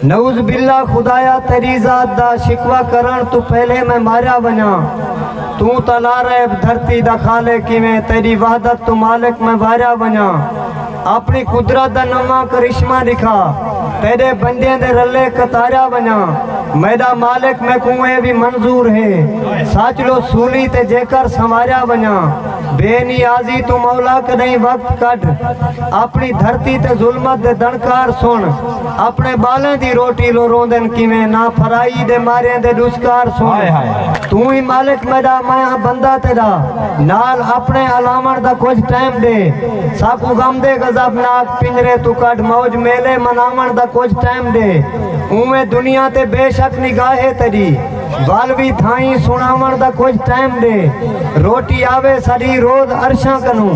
نعوذ باللہ خدایا تیری ذات دا شکوہ کرݨ توں پہلے میں ماریا ونڄاں توں تاں لاریب دھرتی دا خالق ہیویں تیری وحدت توں مالک میں واریا ونڄاں آپݨی قدرت دا نواں کرشمہ ݙکھا تیݙے بندیاں دے رلے قطاریا ونڄاں میݙا مالک میکوں اے وی منظور ہے سچ لو سولی تے جیکر سنواریا ونڄاں بے نیازی توں مولا کݙاہیں وقت کڈھ آپݨی دھرتی تے ظلمت دے دݨکار سݨ اپݨے ٻالیں دی روٹی لو روندن کیویں نہ پھرائی دے ماریں دے ݙسکار سن توں ای مالک میݙا میں ہاں بندہ تیݙا نال اپݨے الاوݨ دا کجھ ٹائم ݙے ساکوں غم دے غضب ناک پنجرے توں کڈھ موج میلے مناوݨ دا کجھ ٹائم ݙے اونویں دنیا تے بے شک نگاہے تیݙی ول وی تھائیں سݨاوݨ دا کجھ ٹائم ݙے روٹی آوے ساݙی روز عرشاں کنوں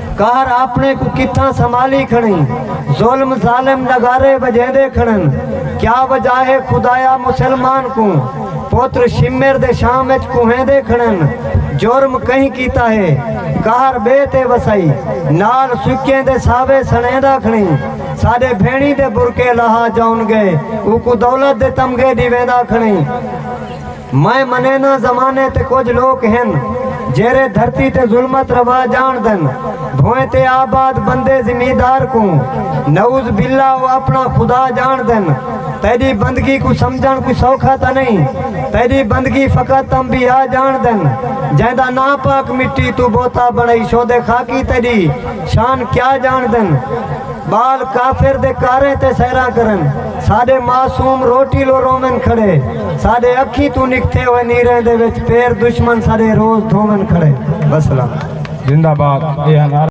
قہر آپݨے کوں کتھاں سنبھالی کھڑیں ظلم ظالم نغارے وڄیندے کھڑن کیا وجہ ہے خدایا مسلمان کوں پتر شمر دے شام اچ کوہیندے کھڑن جرم کہیں کیتا ہے قہر ٻئے تے وسائی نال سکیں دے ساوے سݨیندا کھڑیں ساݙے بھیݨی دے برقعے لہا جاون ڳئے اوکوں دولت دے تمغے ݙیویندا کھڑیں میں منیناں زمانے تے کجھ لوک ہن جیرھے دھرتی تے ظلمت روا ڄاݨدن بھوئیں تے آباد بندے زمیندار کوں نعوذ باللہ او اپݨا خدا ڄاݨدن تیݙی بندگی کوں سمجھݨ کوئی سوکھا تاں نئیں تیݙی بندگی فقط انبیاء ڄاݨدن جیندا ناں پاک مٹی توں بوتا بݨائی شودے خاکی تیݙی شان کیا ڄاݨدن۔ ٻال کافر دے کاریں تے سیراں کرن ساݙے معصوم روٹی لو روون کھڑے ساݙے اکھیں توں نکھتے ہوئے نیریں دے وچ پیر دشمن ساݙے روز دھوون کھڑے وسلام زندہ باد اے ہن